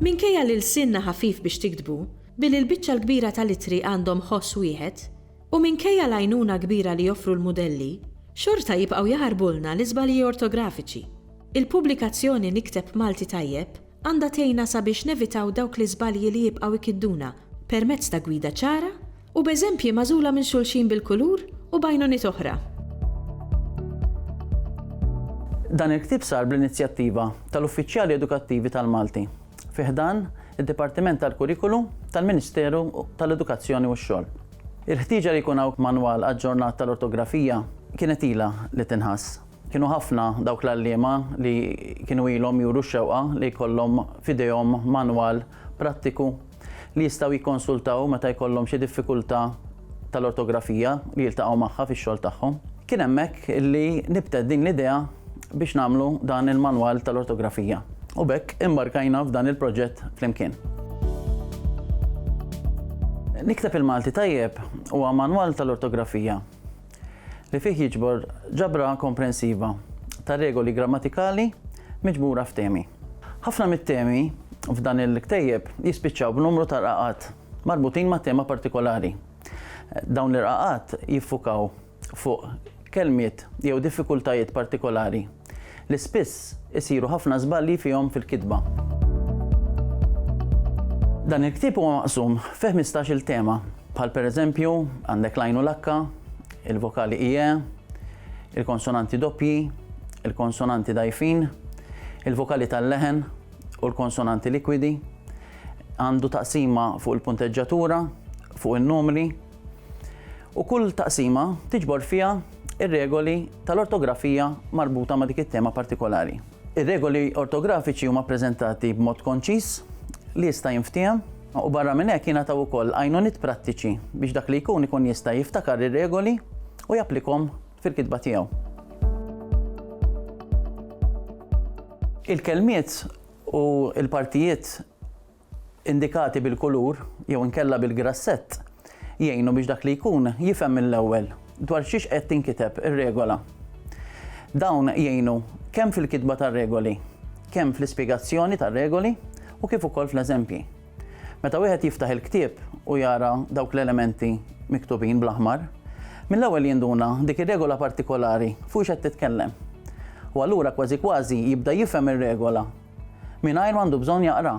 Minkejja li lsienna ħafif biex tiktbu, billi l-biċċa l-kbira tal-ittri għandhom ħoss wieħed, u minkejja l-għajnuna kbira li joffru l-mudelli, xorta jibqgħu jaħarbulna l-iżbalji ortografiċi. Il-pubblikazzjoni Nikteb Malti Tajjeb! għandha tgħinna sabiex nevitaw dawk l-iżbalji li jibqgħu jkidduna permezz ta' gwida ċara u b'eżempji magħżula minn xulxin bil-kulur u b'għajnuniet oħra. Dan il-ktieb sar bl-inizjattiva tal-Uffiċjali Edukattivi tal-Malti fi ħdan id-Dipartiment tal-Kurikulu tal-Ministeru tal-Edukazzjoni u x-Xogħol. Il-ħtieġa li jkun hawn manwal aġġornat tal-ortografija kienet ilha li tinħass. Kienu ħafna dawk l-għalliema li kienu ilhom juru x-xewqa li jkollhom f'idejhom manwal prattiku li jistgħu jikkonsultaw meta jkollhom xi diffikultà tal-ortografija li jiltaqgħu magħha fix-xogħol tagħhom. Kien hemmhekk li nibtet din l-idea biex nagħmlu dan il-manwal tal-ortografija u b'hekk imbarkajna f'dan il-proġett flimkien. Nikteb il-Malti Tajjeb huwa manwal tal-ortografija li fih jiġbor ġabra komprensiva ta' regoli grammatikali miġbura f'temi. Ħafna mit-temi f'dan il-ktejjeb jispiċċaw b'numru ta' rqaqat marbutin ma' tema partikolari. Dawn l-irqaqat jiffukaw fuq kelmiet jew diffikultajiet partikolari. li spiss isiru ħafna żbalji fihom fil-kitba. Dan il-ktieb huwa maqsum fi ħmistax-il tema, bħal pereżempju għandek l-għajn u l-akka, il-vokali ie, il-konsonanti doppji, il-konsonanti dgħajfin, il-vokali tal-leħen u l-konsonanti likwidi, għandu taqsima fuq il-punteġġatura, fuq in-numri, u kull taqsima tiġbor fiha r-regoli tal-ortografija marbuta ma' dik it-tema partikolari. Ir-regoli ortografiċi huma ppreżentati b'mod konċiż li jista' jinftiehem u barra minn hekk jingħataw ukoll għajnuniet prattiċi biex dak li jkun ikun jista' jiftakar ir-regoli u japplikhom fil-kitba tiegħu. Il-kelmiet u l-partijiet indikati bil-kulur jew inkella bil-grassett jgħinu biex dak li jkun jifhem mill-ewwel dwar xiex qed tinkiteb ir-regola. Dawn jgħinu kemm fil-kitba tar-regoli, kemm fl-ispjegazzjoni tar-regoli u kif ukoll fl-eżempji. Meta wieħed jiftaħ il-ktieb u jara dawk l-elementi miktubin bl-aħmar, mill-ewwel jinduna dik ir-regola partikolari fuq x'qed titkellem. U allura kważi kważi jibda jifhem ir-regola mingħajr ma għandu bżonn jaqra,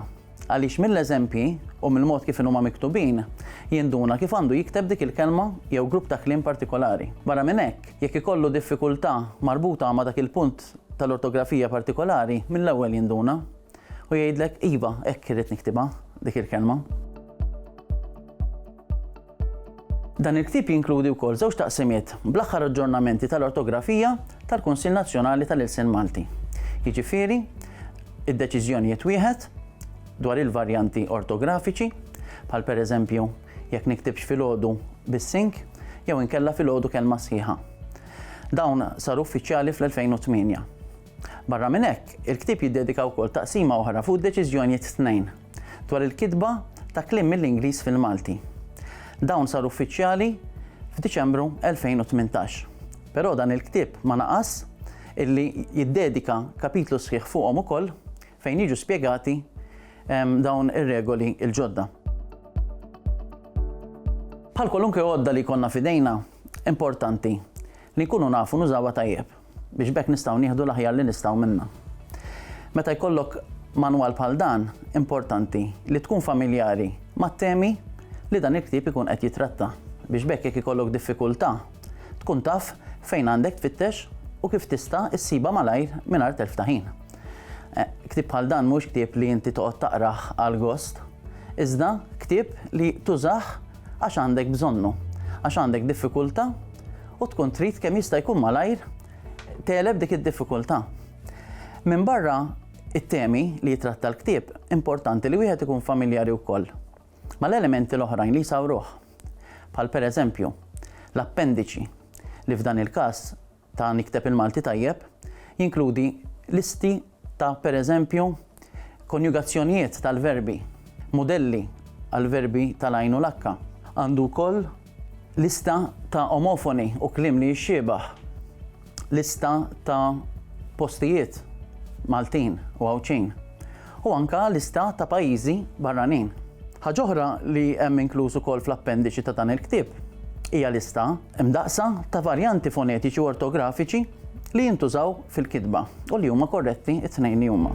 għaliex mill-eżempji u mill-mod kif inhuma miktubin, jinduna kif għandu jikteb dik il-kelma jew grupp ta' kliem partikolari. Barra minn hekk, jekk ikollu diffikultà marbuta ma' dak il-punt tal-ortografija partikolari, mill-ewwel jinduna u jgħidlek iva, hekk irrid niktibha dik il-kelma. Dan il-ktieb jinkludi wkoll żewġ taqsimiet bl-aħħar aġġornamenti tal-ortografija tal-Kunsill Nazzjonali tal-Ilsien Malti. Jiġifieri, id-deċiżjonijiet wieħed dwar il-varjanti ortografiċi, bħal pereżempju jekk niktibx filgħodu bis-sink jew inkella filgħodu kelma sħiħa. Dawn saru uffiċjali fl-2008. Barra minn hekk, il-ktieb jiddedika wkoll taqsima oħra fuq deċiżjonijiet tnejn dwar il-kitba ta' kliem mill-Ingliż fil-Malti. Dawn saru uffiċjali f'Diċembru 2018. Però dan il-ktieb ma naqas illi jiddedika kapitlu sħiħ fuqhom ukoll fejn jiġu spjegati ehm, dawn ir-regoli il-ġodda. Bħal kwalunkwe għodda li konna fidejna, importanti li nkunu nafu nużawa tajjeb. biex b'hekk nistgħu nieħdu l-aħjar li nistgħu minnha. Meta jkollok manwal bħal dan, importanti li tkun familjari mat-temi li dan il-ktieb ikun qed jitratta biex b'hekk jekk ikollok diffikultà tkun taf fejn għandek tfittex u kif tista' issibha malajr mingħajr telf ta' ħin. Eh, ktieb bħal dan mhux ktieb li inti toqgħod taqrah għal gost, iżda ktieb li tużah għax għandek bżonnu, għax għandek diffikultà u tkun trid kemm jista' jkun malajr teleb dik id-diffikultà. Minn barra it-temi li jitratta l-ktieb, importanti li wieħed ikun familjari wkoll mal-elementi l-oħrajn li jsawruh, bħal pereżempju l-appendiċi li f'dan il-każ ta' Nikteb il-Malti Tajjeb jinkludi listi ta' pereżempju konjugazzjonijiet tal-verbi, mudelli għall-verbi tal-għajn u l-akka. Għandu wkoll lista ta' omofoni u kliem li jixxiebah, lista ta' postijiet Maltin u Għawdxin, u anke lista ta' pajjiżi barranin. Ħaġa oħra li hemm inkluż ukoll fl-appendiċi ta' dan il-ktieb hija lista mdaqqsa ta' varjanti fonetiċi u ortografiċi li jintużaw fil-kitba u li huma korretti t-tnejn li huma.